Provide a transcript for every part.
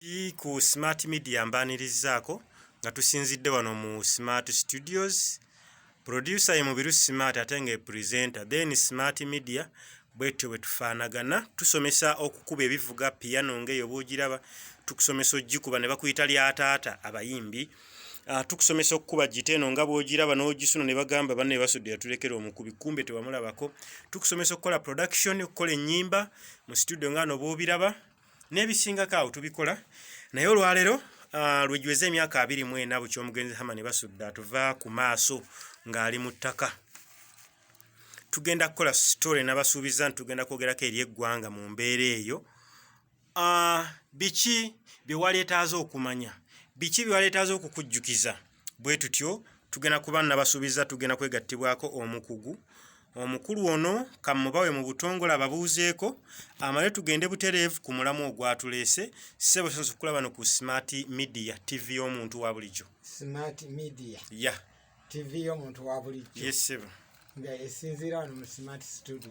Ii ku smart media mbaanirizzaako nga tusinzidde wano mu smart studios producer ye mubiru smart ate nga epresenter then smart media bwetyo bwetufaanagana tusomesa okukuba ebivuga piano nga eyo bwogiraba tukusomesa ogikuba ne bakuyita lya taata abayimbi Uh, tukusomesa okukuba gita eno nga bwogiraba n'ogisuna ne bagamba banne basudde yatulekera omukubi kumbe tewamulabako tukusomesa okukola production okukola ennyimba mu studio nga no bwobiraba n'ebisingako awo tubikola naye olwaleero uh, lwejweza emyaka abiri mu ena bukya omugenzi hama ne basudda tuva ku maaso ng'ali mu ttaka tugenda kukola sitore nabasuubiza nti tugenda kwogerako eri eggwanga mu mbeera eyo uh, biki bye waleetaaza okumanya biki bye waleetaaza okukujjukiza bwe tutyo tugenda kuba nabasuubiza tugenda kwegattibwako omukugu omukulu ono kamubawe mu butongole ababuuzeeko amale tugende butereevu ku mulamu ogwatuleese ssebo sinza okulaba no ku smart media tv y'omuntu wa bulijjo smart media ya tv y'omuntu wa bulijjo yes sebo nga esinziira wano mu smart studio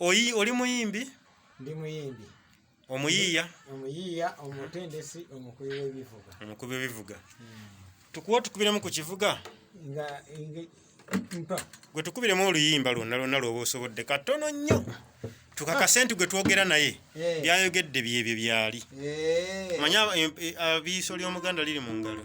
Oyi oli muyimbi? Ndi muyimbi. Omuyiiya? Omuyiiya, omutendesi, omukubi w'ebivuga. Omukubi w'ebivuga. Hmm. Tukuwa otukubiremu ku kivuga? Nga mpa. Gwe tukubiremu oluyimba lwonna lwonna lw'oba osobodde katono nnyo. tukakase nti gwe twogera naye eh. byayogedde byebyo byali eh. manya eh, abiiso ly'omuganda liri mu ngalo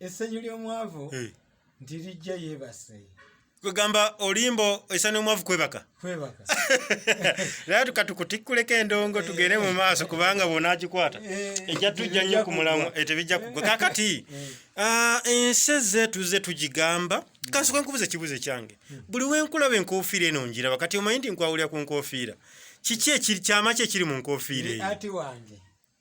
essanyu ly'omwavu eh. nti lijja yeebase kwegamba olimbo essanyu omwavu kwebaka kwebaka naye tukatukutikuleko endongo eh. tugende mu maaso kubanga bwona agikwata eh. ejja tujja nnyo ku mulamu tebijja kugwa kakati ah, ensi ezeetu ze tugigamba kansoka nkubuza ekibuzo ekyange hmm. buli wenkulaba enkofiira eno njiraba kati omanyi nti nkwawulira ku nkofiira kiki ekyama ki ekiri mu nkofiira eyo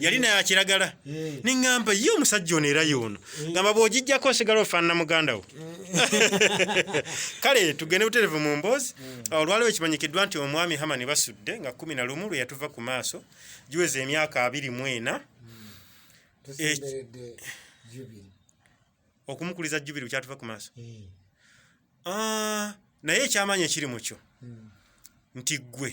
yali naye akiragala eh. neŋŋamba ye omusajja ono era yoono eh. ngamba bw'ogijjako osigala ofaanana muganda wo eh. kale tugende buterevu mu mboozi ah, olwaliwo ekimanyikiddwa nti omwami hamani basudde nga kumi na lumu lwe yatuva ku maaso giweza emyaka abiri mu ena hmm. okumukuliza jubiri bukyatuva ku maaso ah, naye ekyamaanyi ekiri mu kyo hmm. nti ggwe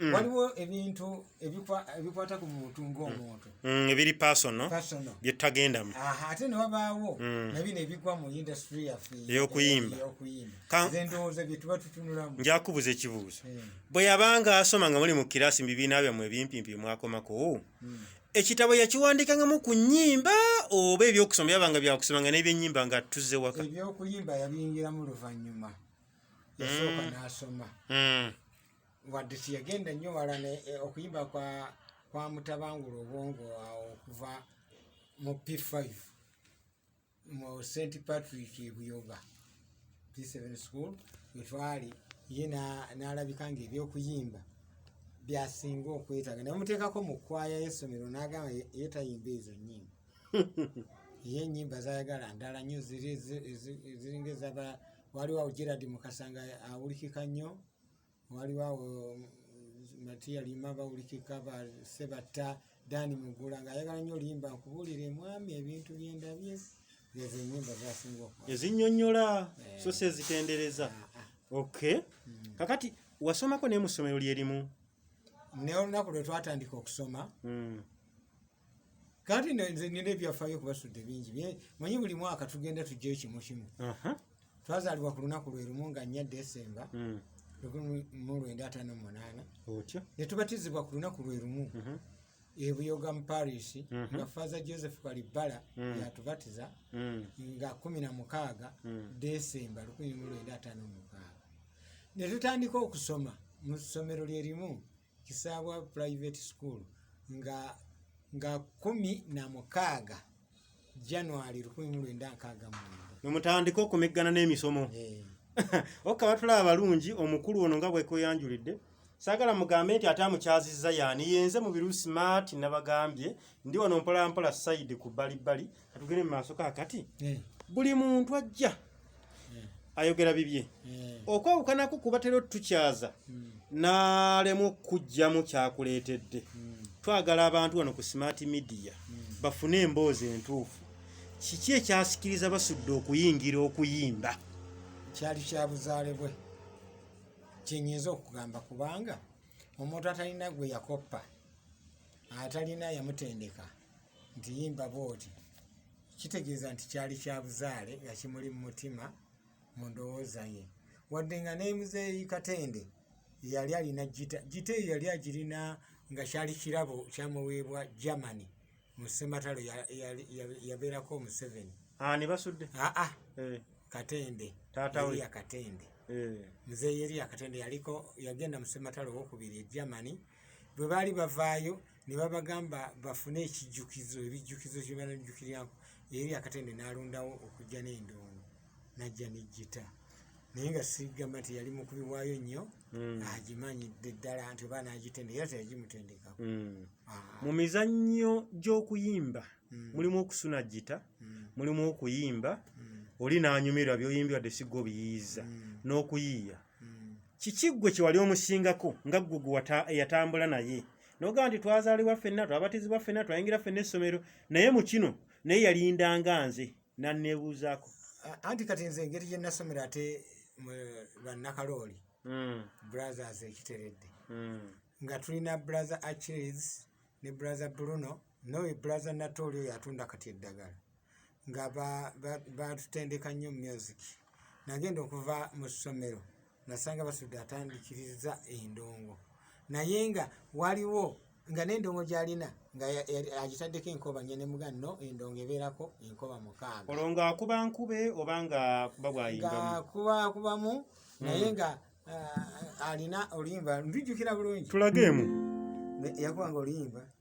Mm. waliwo ebintu ebikwata ku muntu ngaomuntu mm. mm, ebiri pasono byetagendamu ate newabaawo nabino ebigwa mu industry yaffe eyokuyimba endowooza byetuba tutunulamu njakubuza ekibuuzo bwe yabanga asoma nga muli mu kirasi mu bibiina byammwe ebimpimpi byemwakomako ekitabo yakiwandiikangamu ku nyimba oba ebyokusoma byabanga byakusoma nga nebyenyimba nga tuzze waka ebyokuyimba yabiyingiramu luvannyuma yasooka nasoma wadde tiyagenda nnyo wala e, okuyimba kwa kwa mutabangula obwongo awo okuva mu p5 mu st patrick buyoga p7 school wetwali ye n'alabika nga ebyokuyimba byasinga okwetaaga naye muteekako mu kwaya y'essomero n'agamba ye tayimba ezo nyimba ye enyimba zayagala ndala nnyo ziringa ezaba waliwo gerard mukasa nga awulikika nnyo waliwo awo matiya lima bawulikika basebatta dani mugula ngaayagala nyo limba nkubuulire mwami ebintu byendabye ezinyonyola eh. so si ezitendereza ah, ah, ah. ok hmm. kakati wasomako naye mu ssomero lyerimu neolunaku lwe twatandika okusoma hmm. kati nina ebyafaayo kubasudde bingi manyi buli mwaka tugenda tujja ekimu kimu twazaalibwa ku lunaku lwe lumu nga nnya desemba hmm. mu lwenda ataano mu munaana ne tubatizibwa ku lunaku lwe lumu mhm. ebuyoga mu paris mhm. nga faaza joseph kalibbala hmm. yatubatiza hmm. nga kumi na mukaaga desemba lukumi mu lwenda ataano mu mukaaga ne tutandika okusoma mu ssomero lye limu kisaabwa private school nga nga kumi na mukaaga january lukumi mu lwenda nkaaga mwenda nomutandika okumeggana n'emisomo Eh, okka batulaba balungi omukulu ono nga bwekweyanjulidde saagala mugambe nti ate amukyazizza yaani yenze mu biru smart nabagambye ndi wano mpolampola sayidi ku bbalibbali katugere mu maaso kakati eh. buli muntu ajja eh. ayogera bibye eh. okwawukanako kubatera otutukyaza hmm. n'alemu okujjamu kyakuleetedde hmm. twagala abantu wano ku smart media hmm. bafune emboozi entuufu kiki ekyasikiriza basudde okuyingira okuyimba kyali kyabuzaale bwe kyenyinza okugamba kubanga omuntu atalina gwe yakoppa atalina yamutendeka nti yimba bwoti kitegeeza nti kyali kya buzaale nga kimuli mu mutima mu ndowooza ye wadde nga nemuzeeyi katende yali alina gita gita eyo yali agirina nga kyali kirabo kyamuweebwa germany mu sematalo yabeerako omuseveni ah, ne basudde aa ah, ah. eh. katende taataweya katende eh. muzeeyi eriya katende yaliko yagenda mu sematalo owokubiri e germany bwe baali bavaayo ne babagamba bafune ekijjukizo ebijjukizo kye banajjukirako eri akatende n'alondawo okujja n'endongo n'ajja n'ejjita naye nga sigamba nti yali mukubi waayo nnyo hmm. agimanyidde ddala nti oba n'agitenda era teyagimutendekako hmm. ah. mu mizannyo gy'okuyimba hmm. mulimu okusuna jjita mulimu okuyimba oli n'anyumirwa byoyimbi wadde sigga obiyiiza n'okuyiiya kiki ggwe kyewali omusingako nga ggwe gwe eyatambula naye nogamba nti twazaalibwa ffenna twabatizibwa ffenna twayingira ffenna essomero naye mu kino naye yalindanga nze nanneebuuzaako anti kati nze engeri gye nasomero ate bannakalooli hmm. brothers ekiteredde hmm. nga tulina brother achilles ne brother bruno noyo brother natooli oyo atunda kati eddagala nga baatutendeka nnyo mu music nagenda okuva mu ssomero nasanga basudde atandikiriza endongo naye nga waliwo nga n'endongo gyalina nga agitaddeko enkoba nye ne muga no endongo ebeerako enkoba mukaaga olwo nga akuba nkube oba nga akuba bwayingakuba akubamu hmm. naye nga ah, alina oluyimba ndujjukira bulungi tulageemu yakubanga oluyimba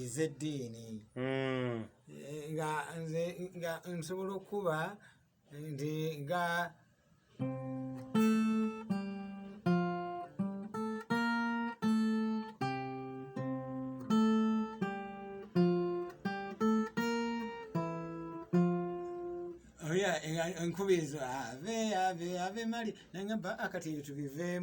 ez'eddiini hmm. eh, nga nze nga nsobola okukuba nti nga nkubiriza ave ave ave mali nangamba akati ebyo tubiveemu